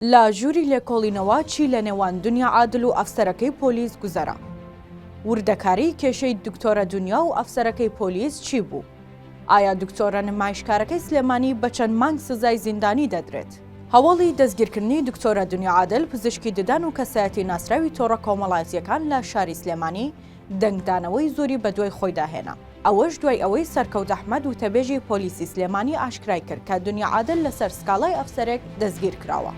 لە ژووری لێکۆڵینەوە چی لە نێوان دونیا عادل و ئەفسەرەکەی پۆلیس گوزەرا؟ وردەکاریی کێشەی دکتۆرە دونیا و ئەفسەرەکەی پۆلیس چی بوو؟ ئایا دکتۆرە نمایشکارەکەی سلێمانی بە چەند مانگ سزای زیندانی دەدرێت؟ هەواڵی دەستگیرکردنی دکتۆرە دونیا عادل پزیشکی ددان و کەسایەتی ناسراوی تۆڕە کۆمەڵایەتییەکان لە شاری سلێمانی، دەنگدانەوەی زۆری بەدوای خۆیدا هێنا، ئەوەش دوای ئەوەی سەرکەوت ئەحمەد وتەبێژی پۆلیسی سلێمانی ئاشکرای کرد کە دنیا عادل لەسەر سکاڵای ئەفسەرێک دەستگیرکراوە.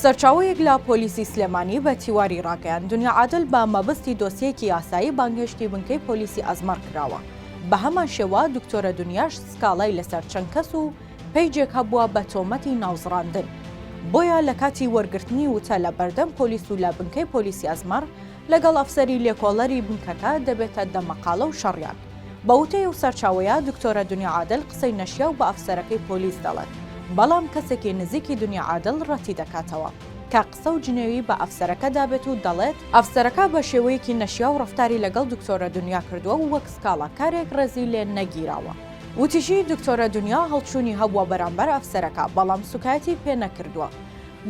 سەرچاوەیەک لە پۆلیسی سلێمانی بە تیواری راگەیاند، دنیا عادل بە مەبەستی دۆسیەیەکی یاسایی بانگهێشتی بنکەی پۆلیسی ئەزمەڕ کراوە، بەهەمان شێوە دکتۆرە دنیاش سکاڵای لەسەر چەند کەس و پەیجێک هەبووە بە تۆمەتی ناوزڕاندن، بۆیە لەکاتی وەرگرتنی وتە لە بەردەم پۆلیس و لە بنکەی پۆلیسی ئەزمەڕ لەگەڵ ئەفسەری لێکۆڵەری بنکەکە دەبێتە دەمەقاڵە و شەڕیان. بە وتەی ئەو سەرچاوەیە، دکتۆرە دنیا عادل قسەی نەشیاو بە ئەفسەرەکەی پۆلیس دەڵێت، بەڵام کەسێکی نزیکی دنیا عادل رەتیدەکاتەوە، کە قسە و جنێوی بە ئەفسەرەکە دابێت و دەڵێت، ئەفسەرەکە بە شێوەیەکی نەشیاو رەفتاری لەگەڵ دکتۆرە دنیا کردووە و وەک سکاڵاکارێک رێزی لێ نەگیراوە. وتیشی، دکتۆرە دنیا هەڵچوونی هەبووە بەرامبەر ئەفسەرەکە، بەڵام سوکایەتی پێ نەکردووە.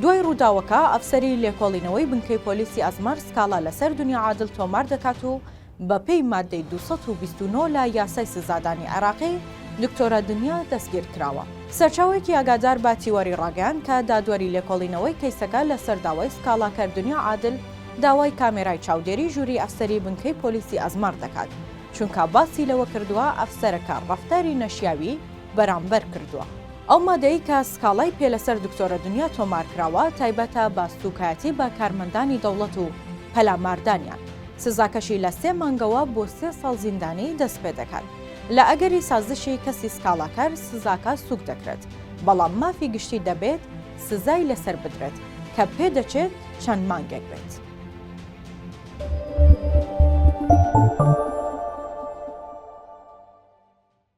دوای ڕووداوەکە، ئەفسەری لێکۆڵینەوەی بنکەی پۆلیسی ئەزمەر سکاڵا لەسەر دنیا عادل تۆمار دەکات و بەپێی ماددەی دوو سەد و بیست و نۆ لە یاسای سزادانی عێراقی، دکتۆرە دنیا دەستگیرکراوە. سەرچاوەیەکی ئاگادار بە تیوەری ڕاگەیاند کە دادوەری لێکۆڵینەوەی کەیسەکە لەسەر داوای سکاڵاکەر دنیا عادل، داوای کامێرای چاودێری ژووری ئەفسەری بنکەی پۆلیسی ئەزمەر دەکات، چونکە باسی لەوە کردووە ئەفسەرەکە ڕەفتاری نەشیاوی بەرامبەر کردووە. ئەو مادەی کە سکاڵای پێ لەسەر دکتۆرە دنیا تۆمارکراوە تایبەتە بە سووکایەتی بە کارمەندانی دەوڵەت و پەلاماردانیان. سزاکەشی لە سێ مانگەوە بۆ سێ ساڵ زیندانی دەست پێ دەکات. لە ئەگەری سازشی کەسی سکاڵاکەر سزاکە سووک دەکرێت، بەڵام مافی گشتی دەبێت سزای لەسەر بدرێت، کە پێ دەچێت چەند مانگێک بێت.